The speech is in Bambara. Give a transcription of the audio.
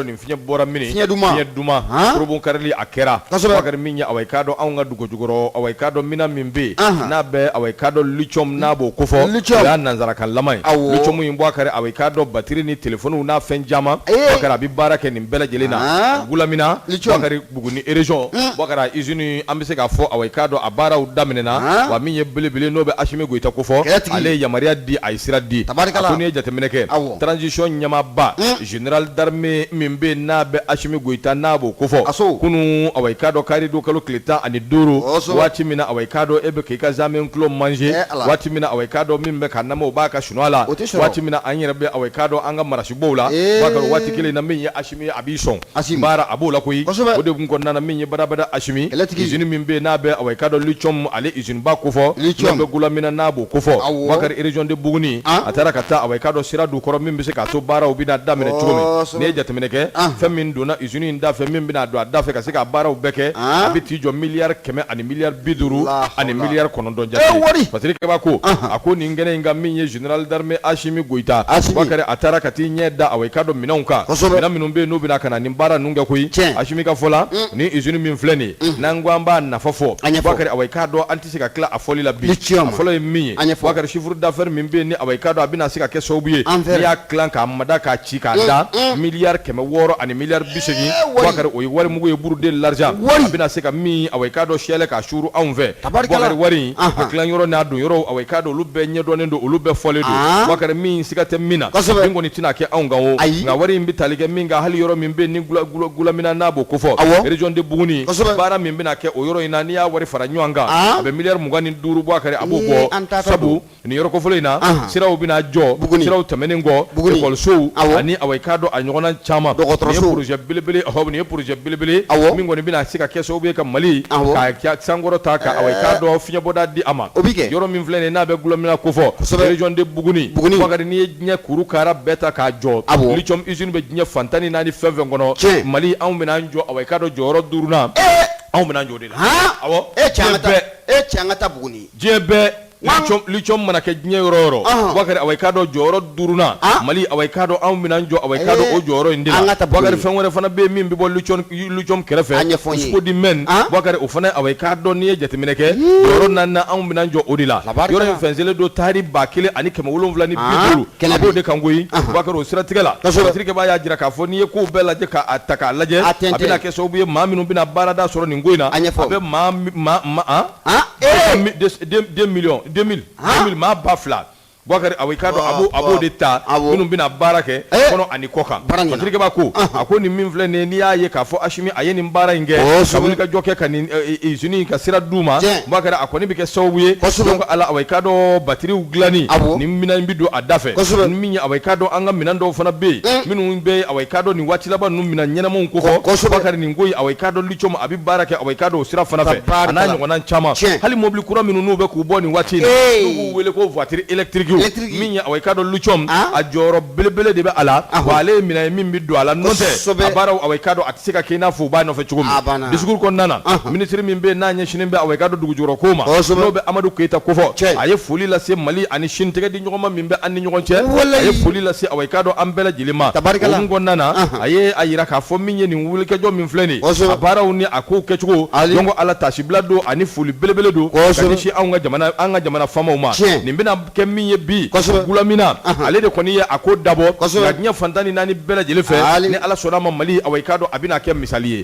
nin fiɲɛ bɔra mini fiɲɛ duman fiɲɛ duman forobun karili a kɛra kosɛbɛ Bakari min ye awa i k'a dɔn anw ka dugu jukɔrɔ awa i k'a dɔn mina min bɛ yen n'a bɛ awa i k'a dɔn lithium n'a b'o kofɔ lithium o y'a nanzarakanlama ye awɔ lithium in Bakari awa i k'a dɔn batiri ni telefoniw n'a fɛn caman Boubacar a bɛ baara kɛ nin bɛɛ lajɛlen na Goulamina lithium Boubacar Buguni région Boubacar usine an bɛ se k'a fɔ awa i k'a dɔn a baaraw daminɛna wa min ye belebele n'o bɛ Asimi Goyita kofɔ kɛlɛtigi ale ye yamaruya di a ye sira di tabarikala a ko n'i ye jateminɛ kɛ awɔ transition ɲɛmaaba Général d'armée min bɛ n'a bɛ Asimi Goyita n'a b'o ko fɔ a kunun awa i k'a dɔn karidon kalo tile tan ani duuru waati min awa i k'a dɔn e bɛ k' i ka zamɛ tulu manger waati min awa i k'a dɔn min bɛ ka na o b'a ka sunaa la waati min an yɛrɛ bɛ awa i k'a dɔn an ka marasibɔ la waati kelen na min ye a a b'i sɔn a baara a b'o la ko o de tun kɔnɔna min ye barabada asimi kɛlɛtigi usine min bɛ n'a bɛ awa i k'a dɔn lithium ale usine ba kofɔ n'a bɛ Goulamina n'a b'o kofɔ Bakari région de Buguni a taara ka taa awa i k'a dɔn sira di kɔrɔ min bɛ se k'a to baaraw bɛna daminɛ cogo min n'i ye jateminɛ kɛ fɛn min donna usine in da fɛ min bɛna don a da fɛ ka se ka baaraw bɛɛ kɛ a bɛ t'i jɔ milliard kɛmɛ ani milliard bi duuru ani milliard kɔnɔntɔn wari pa ko a ko nin kɛnɛ in kan min ye Général d'armée Asimi Goyita, Asimi, Boubacar a taara ka t'i ɲɛ da awɔ, i k'a dɔn minɛnw kan, kosɛbɛ, minɛn minnu bɛ yen n'u bɛna ka na nin baara ninnu kɛ koyi, tiɲɛ, Asimi ka fɔ la, un, nin usine min filɛ nin ye, unhun, n'an ko an b'a nafa fɔ, a ɲɛfɔ, Boubacar awɔ, i k'a dɔn an tɛ se ka tila a fɔli la bi, ni tiɲɛ ma, a fɔlɔ ye min ye, a ɲɛfɔ, Boubacar chiffre d'affaires min bɛ yen ni awɔ, i k'a dɔn a bɛna se ka kɛ sababu ye, an fɛ, n'i y'a tilan k'a mada k'a ci k'a da, un, un, milliard kɛmɛ wɔɔrɔ ani milliard bi seegin, ee, wari, Boubacar o ye wari mugu ye, bourre de l'argent, wari, a bɛna se ka min awɔ, i k'a dɔn siyɛlɛ k'a suuru anw fɛ, Wari Bakari wari yɔrɔ n'a don yɔrɔ awa i k'a dɔn olu bɛɛ ɲɛdɔnnen don olu bɛɛ fɔlen don Bakari min siga tɛ min na min kɔni tɛna kɛ anw kan ayi nka wari in bɛ tali kɛ min kan hali yɔrɔ min bɛ ni Goulamina n'a b'o kofɔ région de Buguni baara min bɛna kɛ o yɔrɔ in na n'i y'a wari fara ɲɔgɔn kan a bɛ milliard mugan ni duuru bɔ Bakari a b'o bɔ an ta sabu Nin yɔrɔ kofɔlen in na, anhan, siraw bɛna jɔ, Buguni, siraw tɛmɛnen kɔ, Buguni, école sow, awɔ, ani i k'a dɔn a ɲɔgɔnna caman, dɔgɔtɔrɔsow, nin ye projet belebele, ɔhɔ, nin ye projet belebele, awɔ, min kɔni bɛna se ka kɛ sababu ye ka Mali, awɔ, k'a sankɔrɔta, ka i k'a dɔn fiɲɛbɔda di a ma, o bɛ kɛ, yɔrɔ min filɛ nin ye n'a bɛ Goulamina kofɔ, kosɛbɛ, région de Buguni, Buguni, Bakari n'i ye diɲɛ kuru kaara bɛɛ ta k'a jɔ, awɔ, lithium usine bɛ diɲɛ fan tan ni naani fɛn o fɛn kɔnɔ, tiɲɛ, Mali anw bɛna an jɔ, i k'a dɔn jɔyɔrɔ duurunan, ee, anw bɛna an jɔ o de la, han, awɔ, ee cɛ an ka taa Buguni, diɲɛ bɛɛ lithium mana kɛ diɲɛ yɔrɔ o yɔrɔ bakari awa i k'a dɔn jɔyɔrɔ duurunan mali awa i k'a dɔn anw bɛna an jɔ awa i k'a dɔn o jɔyɔrɔ in na nka bakari jaa fɛn wɛrɛ fana bɛ min b'o kɛrɛfɛ an ɲɛfɔdi mɛn bakari o fana awa i k'a dɔn n'i ye jateminɛ kɛ yɔrɔ na anw bɛna an jɔ o de la yɔrɔ in fɛnsɛnnen don taari ba kelen ani kɛmɛ wolonwula ni kɛlɛ de kan koyi bakari o siratigɛ la a b'a jira k'a fɔ n'i ye ko bɛɛ lajɛ k'a ta k'a lajɛ a kɛ sababu ye maa minnu bɛna baarada sɔrɔ nin ko in na a bɛ maa ba fila Bukari i k'a dɔn a b'o de ta minnu bɛna baara kɛ kɔnɔ ani kɔkan Bukari bawo a ko nin min filɛ nin ye n'i y'a ye k'a fɔ Asimi a ye nin baara in kɛ ka wulikajɔ kɛ ka nin usine in ka sira d'u ma Bukari a kɔni bɛ kɛ sababu ye donc a la i k'a dɔn batteries dilanni nin minɛn in bɛ don a da fɛ ni min ye i k'a dɔn an ka minɛn dɔw fana bɛ yen minnu bɛ i k'a dɔn nin waati laban ninnu minɛn ɲɛnamaw ko fɔ Bukari nin ko in i k'a dɔn cogo a bɛ baara kɛ i k'a dɔn o sira fana fɛ n'a ɲɔgɔn caman hali mobili kura minnu n'u bɛ k'u bɔ nin waati b'u wele ko voiture électrique min i k'a dɔn a jɔyɔrɔ belebele de bɛ a la a ale minɛn min bɛ don a la nɔfɛ baara i k'a dɔn a tɛ se ka kɛ i n'a fɔ u b'a nɔfɛ cogo discours kɔnɔna minisiri min bɛ n'a ɲɛsinnen bɛ i k'a dɔn dugujukɔrɔ ko ma n'o bɛ Amadu Keyita ko fɔ a ye foli lase Mali ani Chine tɛgɛdiɲɔgɔnma min bɛ an ni ɲɔgɔn cɛ a ye foli lase i k'a dɔn an bɛɛ lajɛlen ma tari kɔnɔna a a jira k'a fɔ min ye wulikajɔ min filɛ nin ye a baaraw ni a kow kɛcogo donc Ala taasibila don ani foli belebele don ka ɲɛsin anw ka jamana an ka jamana faamaw ma nin bɛna kɛ min ye bi Gulamina ale de kɔni ye a ko dabɔ ka diɲɛ fan tan ni naani bɛɛ lajɛlen fɛ ni Ala sɔnn'a ma Mali awa i k'a dɔn a bɛna kɛ misali ye